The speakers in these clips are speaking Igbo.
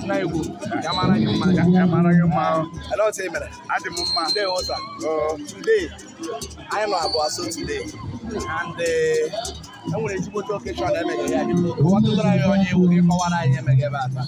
Nwa Igbo ya mara gị mma ya mara gị mma ele otu ị mere adị m mma ndị ụta today anyị nọ abụọ so today and eh, e nwere ezigbote occasion emeghe ya ọtụtara anyị onye ị wụ gị kọwara anyị emeghe ebe a taa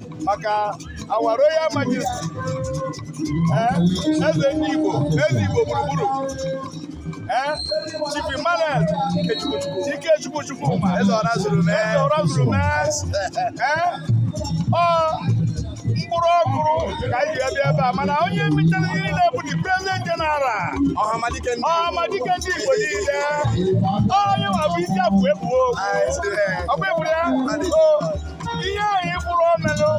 maka our royal majesty eh, eze ndị Igbo eze Igbo gburugburu eh, Chief Emmanuel Ikechukwu Chukwu eze ọra zuru mee mkpụrụ ọkụrụ ka anyị ji bịa ebe a mana onye mechere ihe niile bụ the president general Ọhamadike ndị Igbo niile onye nwa bụ isi afụ ebuo ọkwa eburu ya ihe ahụ ị bụrụ omenụ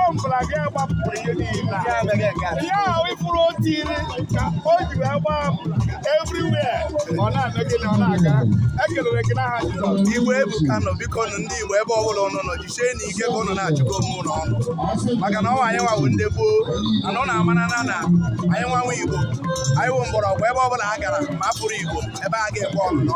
ọbụla gị agbapụrụ ihe niile ihe ahụ ị fụrụ otu iri o ji wee gbaa everywhere ọ na-eme gị na ọ na-aga ekelere gị n'aha Jizọs Igbo ebuka nụ biko nụ ndị Igbo ebe ọbụla ụnụ nọ jisie nụ ike ka ụnụ na-achụkọ onwe ụnụ ọnụ maka na ọ wụ anyị nwa wụ ndị gboo mana ụnụ amarana na anyị nwa nwe Igbo anyị wụ mgbọrọgwụ ebe ọbụla a gara ma a fụrụ Igbo ebe a ga-ekwe ọnụnọ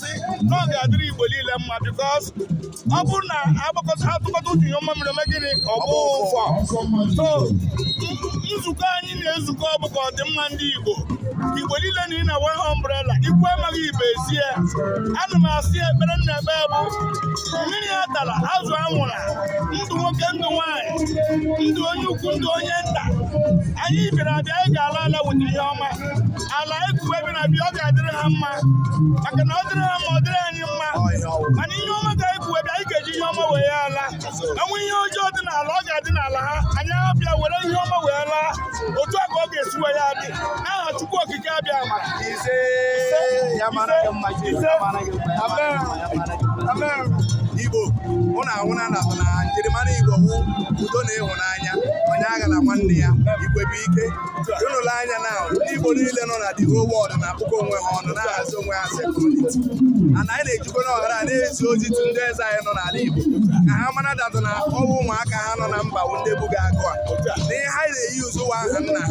na-asị na ọ ga-adịrị Igbo niile mma because ọ bụrụ na atụkọta uche ihe ọma mere gịnị ọ bụ ụfọ so nzukọ anyị na-ezukọ bụ ka ọdịmma ndị Igbo Igbo niile na ị na one umbrella ikwu amaghị ibe ezie ana m asị ekpere m na-ekpe bụ mmiri atala azụ anwụla ndụ nwoke ndụ nwaanyị ndụ onye ukwu ndụ onye nta anyị bịara abịa anyị ga-ala ala bute ihe ọma ala ekuwe bi na bi ọ ga-adịrị ha mma maka na ọ dịrị ha mma ọ dịrị anyị mma mana ihe ọma ka ekuwe bi anyị ga-eji ihe ọma wee ya ala e nwee ihe ọjọọ dị n'ala ọ ga-adị n'ala ha anyị abịa were ihe ọma wee laa otu a ka ọ ga-esi wee ya adị n'aha Chukwu Okike Abịama ise ise amen amen Igbo ụnụ ahụna na na njirimara Igbo wụ udo na ịhụnanya onye aghala nwanne ya igwe bụ ike ụnụ lee anya na ndị Igbo niile nọ na the whole world na-akpọkọ onwe ha ọnụ na-ahazi onwe ha security ana anyị na-ejikwa ohere a na-ezi ozi to ndị eze anyị nọ n'ala Igbo ka ha mara datụ na ọ wụ ụmụaka ha nọ na mba bụ ndị buga agụ a na ihe ha na-eyi ụzọ ụwa aha nna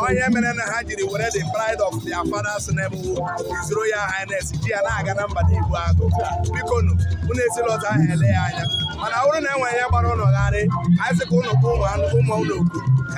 ha ihe mere na ha jiri were the pride of their fathers name wụ His Royal Highness ji ya na-aga na mba Igbo agụ biko nụ unu esila otu ahụ ele ya anya mana ọ bụrụ na enwere ihe gbara ụnụ gharịị anyị sị ka ụnụ kpọọ ụmụ ụnụ ụmụ ụnụ oku